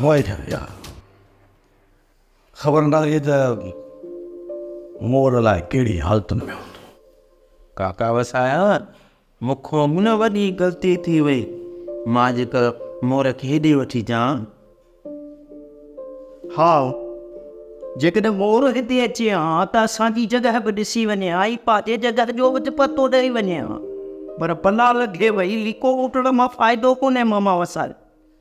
هوائي ٿي وئي آ. خبر ناهي ته مور الاء ڪهڙي حالتن ۾ هوندو. ڪاڪا وسايا مون کان نه وڏي غلطي ٿي وئي مان جيڪر مور کي هيڏي وٺي اچان ها جيڪڏهن مور هتي اچي ها ته اسان جي جڳهه به ڏسي وڃي ها ۽ پنهنجي جڳهه جو به پتو ڏئي وڃي ها پر بلا لڳي وئي ليڪو لوٽڻ مان فائدو ڪونهي ماما وسايا.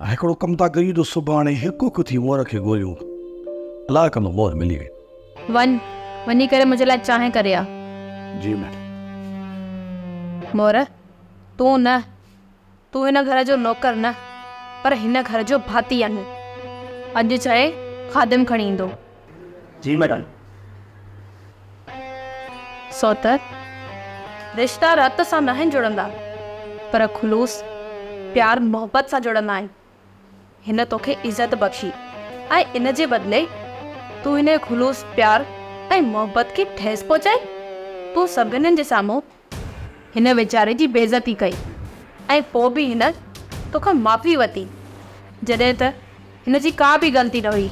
هڪڙو ڪم ٿا ڪريون جو سڀاڻي هڪ هڪ ٿي مور کي ڳوليون. الاء ڪنڌ مور ملي وئي. وڃ، وڃي ڪري منهنجي لاء چانهه ڪري آ. جي ميڊم. مور، تون نه، تون هن گهر جو نوڪر نه، پر هن گهر جو ڀاتي آهين. اڄ چئه، خادم کڻي ايندو. جي ميڊم. سوتر، رشتا رت سان ناهن جڙندا، پر خلوص، پيار محبت سان جڙندا آهن. هن توکي عزت بخشي ۽ ان جي بدلي تون هن خلوص پيار ۽ محبت کي ٺيس پهچائي؟ تون سڀنن جي سامهون هن ويچاري جي بيعزتي ڪئي ۽ پوء به هن تو کان معافي ورتي جڏهن ته هن جي ڪا به غلطي نه هئي.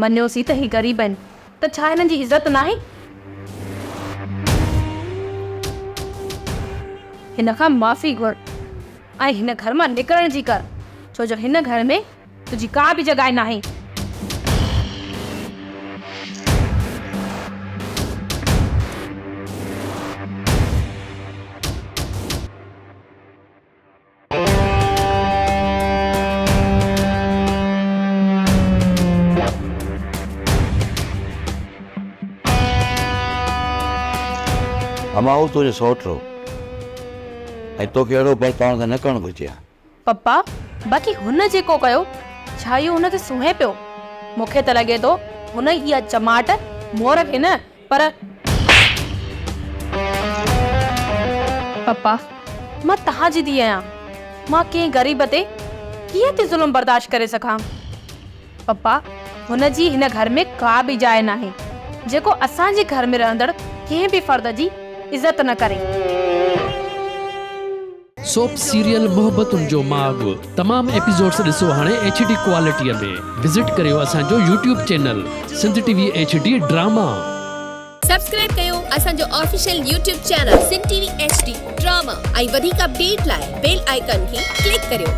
مڃيوسين ته هي غريب آهن ته ڇا هنن جي عزت ناهي؟ هن کان معافي گهر ۽ هن گهر مان نڪرڻ جي ڪر ڇو جو هن گهر ۾ تنهنجي ڪا به جڳائي ناهي. همائون تنهنجو سئوٽ هو ۽ توکي اهڙو برتاء نه ڪرڻ گهرجي ها. پپا، باقي هن جيڪو ڪيو، ڇا اهو هن کي سونهين پيو؟ مون کي ته لڳي ٿو هن ئي اها چماٽ مور کي نه پر. پپا، مان توهان جي ڌيء آهيان، مان ڪنهن غريب تي ڪيئن ٿي ظلم برداشت ڪري سگهان؟ پپا، هن جي هن گهر ۾ ڪا به جاء ناهي، جيڪو اسان جي گهر ۾ رهندڙ ڪنهن به فرد جي عزت نه ڪري. سوپ سيريل محبتن جو ماڳ تمام ايپيسوڊس ڏسو هاڻي ايڇ ڊي ڪوالٽي ۾ وزٽ ڪريو اسان جو YouTube channel Sindh T V H D drama. Subscribe ڪيو اسان جو official YouTube channel Sindh T V H D drama ۽ وڌيڪ اپڊيٽ لاء بيل آئيڪان کي ڪلڪ ڪريو.